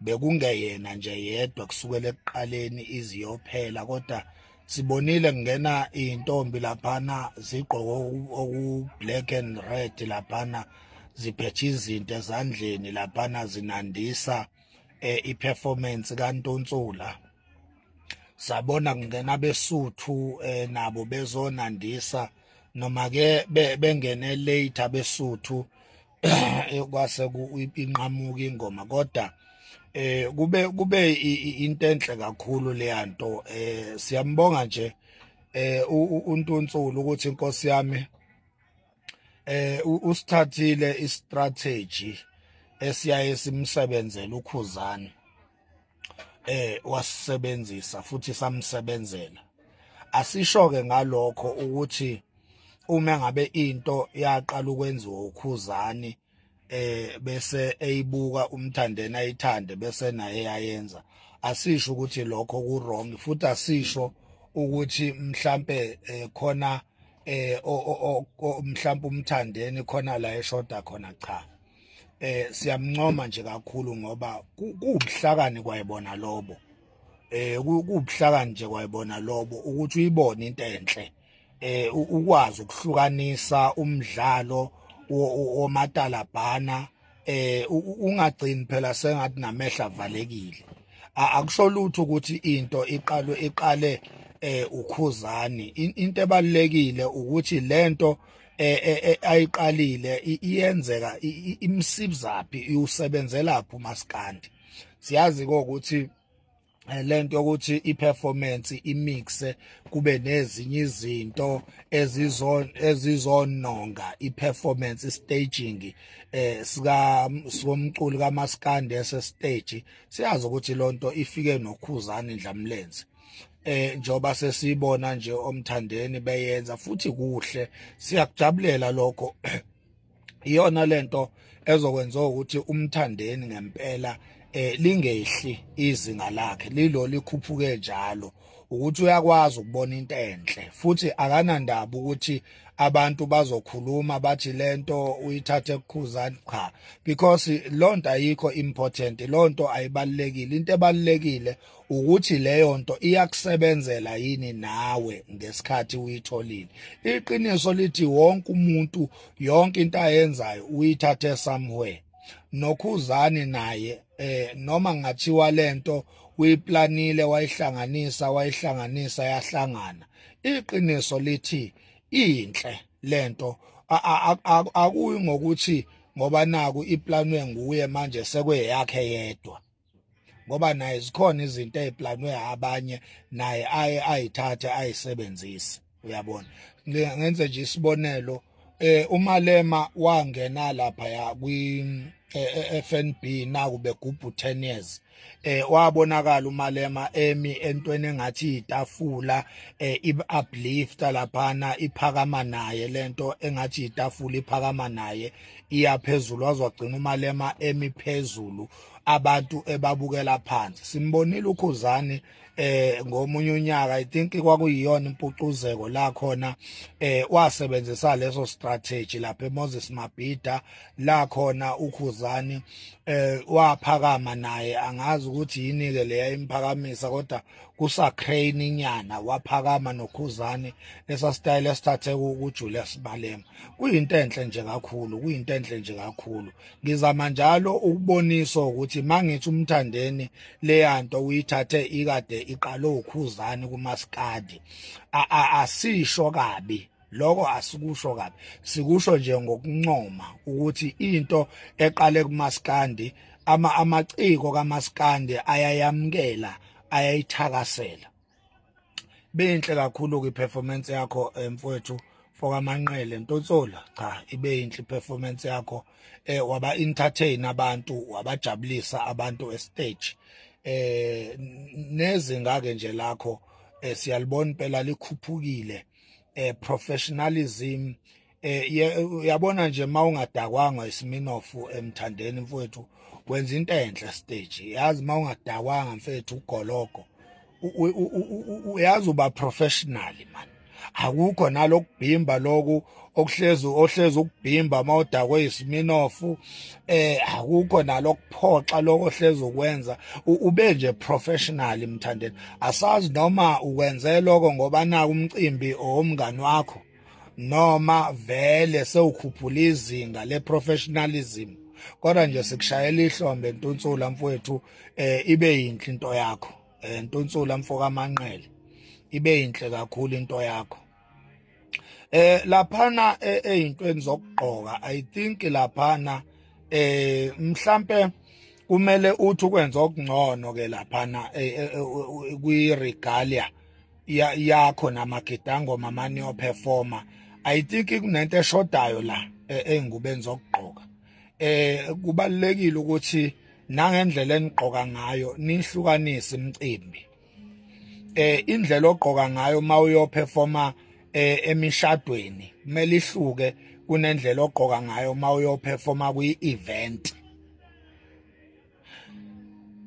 bekungeyena nje yedwa kusukela ekuqaleni iziyophela kodwa sibonile kungena intombi laphana zigqoke oku black and red laphana ziphethe izinto ezandleni laphana zinandisa eh, i-performance kaNtunsula sabona kungena besuthu eh, nabo bezonandisa noma ke bengene late abesuthu kwase inqamuka ingoma kodwa eh kube kube into enhle kakhulu leya nto eh siyambonga nje eh untunsulu ukuthi inkosi yami eh usithathile i strategy esiyaye simsebenzele ukhuzana eh wasisebenzisa futhi samsebenzela asishoke ngalokho ukuthi uma ngabe into yaqala ukwenziwa ukhuzani eh bese eyibuka umthandeni ayithande bese naye yayenza asisho ukuthi lokho ku wrong futhi asisho ukuthi mhlambe eh, khona eh mhlambe umthandeni khona la eshoda khona cha eh siyamncoma nje kakhulu ngoba kuwubuhlakani kwayibona lobo eh kuwubuhlakani nje kwayibona lobo ukuthi uyibone into enhle eh ukwazi ukuhlukanisa umdlalo womatalabhana eh ungagcini phela sengathi namehla avalekile akusho lutho ukuthi into iqalwe iqale eh ukhuzani into ebalekile ukuthi lento eh, eh, eh ayiqalile iyenzeka imsibzaphi usebenzelaphi umaskandi siyazi ukuthi eh, lento ukuthi iperformance imixe kube nezinye izinto ezizon ezizononga iperformance staging eh sika somculi kaMaskandi ese stage siyazi ukuthi lonto ifike nokhuzani ndlamlenze eh njoba sesibona nje omthandeni beyenza futhi kuhle siyakujabulela lokho iyona lento ezokwenza ukuthi umthandeni ngempela eh lingehli izinga lakhe lilo likhuphuke njalo ukuthi uyakwazi ukubona into enhle futhi akanandaba ukuthi abantu bazokhuluma bathi lento uyithathe kukhuzani cha because lonto ayikho important lonto ayibalekile into ebalekile ukuthi leyo nto iyakusebenzela yini nawe ngesikhathi uyitholile iqiniso lithi wonke umuntu yonke into ayenzayo uyithathe somewhere nokhuzani naye eh noma ngathiwa lento uyiplanile wayihlanganisa wayihlanganisa yahlangana iqiniso lithi inhle lento akuyi ngokuthi ngoba naku iplanwe nguye manje sekweyakhe yedwa ngoba naye zikhona izinto eziplanwe abanye naye aye ayithathe ayisebenzise uyabona ngenze nje isibonelo eh umalema wangena lapha ya kwi eFNB eh, eh, naku begubhu 10 years eh wabonakala umalema emi entweni engathi itafula eh ib uplifter laphana iphakama naye lento engathi itafula iphakama naye iyaphezulu wazwagcina umalema emi phezulu abantu ebabukela phansi simbonile ukhuzani eh ngomunye unyaka i think kwakuyiyona impucuzeko la khona eh wasebenzisa leso strategy lapha eMoses Mabhida la khona ukhuzani eh waphakama naye angazi ukuthi yini ke leya imphakamisa kodwa kusa crane inyana waphakama nokhuzani lesa style esithathe ku Julius Balema kuyinto enhle nje kakhulu kuyinto enhle nje kakhulu ngizama njalo ukubonisa ukuthi mangithi umthandeni leyanto uyithathe ikade iqale ukhuzani kumaskadi asisho kabi lokho asikusho kabi sikusho nje ngokuncoma ukuthi into eqale kumaskandi ama amaciko kamaskandi ayayamkela ayayithakasela Benhle kakhulu ke performance yakho eh, mfowethu fokamanqele Ntotsola cha ibe inhle performance yakho eh waba entertain abantu wabajabulisa abantu e stage eh nezinga ke nje lakho eh, siyalibona impela likhuphukile eh professionalism eh uyabona nje mawungadakwanga isiminofu emthandeni mfowethu wenza into enhle stage yazi mawungadakwanga mfethu ugologo uyazi uba professional man akukho nalokubhimba loku okuhlezi ohlezi ukubhimba mawudakwe isiminofu eh akukho nalokuphoxa lokho ohlezi ukwenza ube nje professional mthandeni asazi noma ukwenze lokho ngoba naku umcimbi owomngani wakho noma vele sewukhuphula izinga le professionalism kodwa nje sikushayela ihlombe ntunsula mfowethu eh ibe yinhle into yakho eh ntunsula mfoka manqele ibe yinhle kakhulu into yakho eh laphana eh, ezintweni zokugqoka i think laphana eh mhlambe kumele uthi ukwenza okungcono ke laphana eh, eh, kwi regalia yakho namagidangoma mani yoperforma i think kunento eshodayo la e, engubeni zokugqoka eh kubalekile ukuthi nangendlela enigqoka ngayo nihlukanise imicimbi eh indlela ogqoka ngayo uma uyoperforma eh, emishadweni kumele ihluke kunendlela ogqoka ngayo uma uyoperforma kwi-event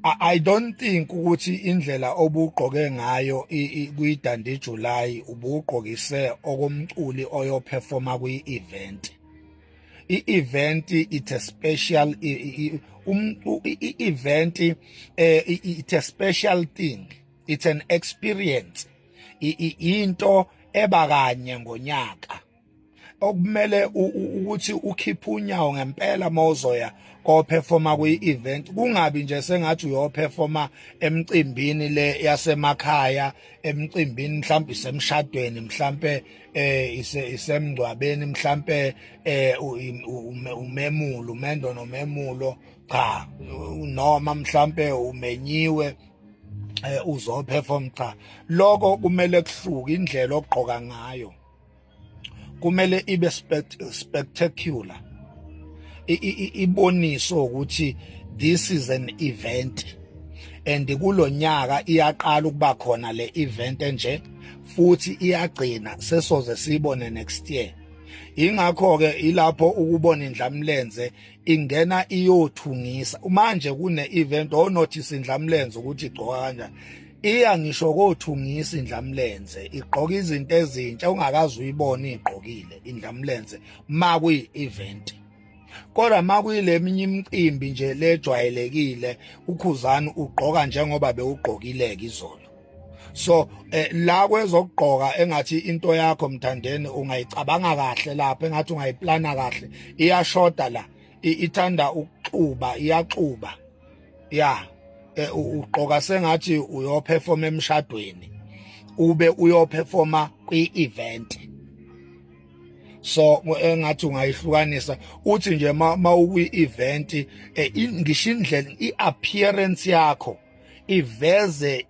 I don't think ukuthi indlela obugqoke ngayo kuyidande July ubugqokise okomculi oyoperforma kwi-event i-event it's a special i-event eh, it's a special thing it's an experience into eba kanye ngonyaka okumele ukuthi ukhiphe unyawo ngempela mawuzoya koperforma kwi-event kungabi nje sengathi uyoperforma emcimbini le yasemakhaya emcimbini mhlawumbe isemshadweni mhlawumbe eh isemngcwabeni mhlawumbe eh umemulo umendo nomemulo cha noma mhlawumbe umenyiwe eh, uzoperform cha lokho kumele kuhluke indlela ogqoka ngayo kumele ibe spectacular iboniso ukuthi this is an event and kulonyaka iyaqala ukuba khona le event enje futhi iyagcina sesoze siyibone next year ingakho ke ilapho ukubona indlamlenze ingena iyothungisa manje kune-event onothi sindlamlenze ukuthi igcoka kanjani iya ngisho kothungisa indlamlenze igqoka izinto ezintsha ungakazi uyibona igqokile indlamlenze ma kuyi-event kodwa ma kuyileminye imicimbi nje lejwayelekile ukhuzani ugqoka njengoba bewugqokileke izolo so eh, la kwezokugqoka engathi into yakho mthandeni ungayicabanga kahle lapha engathi ungayiplana kahle iyashoda la ithanda ukuxuba iyaxuba ya eh, ugqoka sengathi uyoperforma emshadweni ube uyoperforma kwi-event so engathi ungayihlukanisa uthi nje ma ukwi-event eh, ngisho indlela i-appearance yakho iveze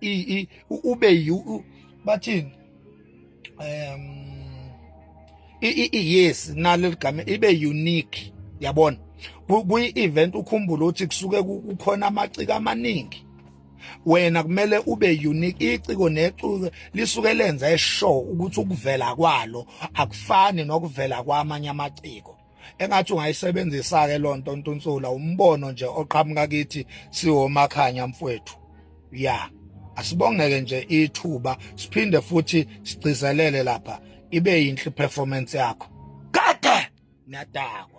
ube bathini um yes nalo ligama ibe unique yabona kuyi event ukhumbule ukuthi kusuke kukhona amaciko amaningi wena kumele ube unique iciko neciko lisuke lenza eshow ukuthi ukuvela kwalo akufani nokuvela kwamanye amaciko engathi ungayisebenzisa ke lonto ntunsula umbono nje oqhamuka kithi siwomakhanya mfwethu ya asibongeke nje ithuba siphinde futhi sigcizelele lapha ibe yinhle performance yakho kade niyadakwa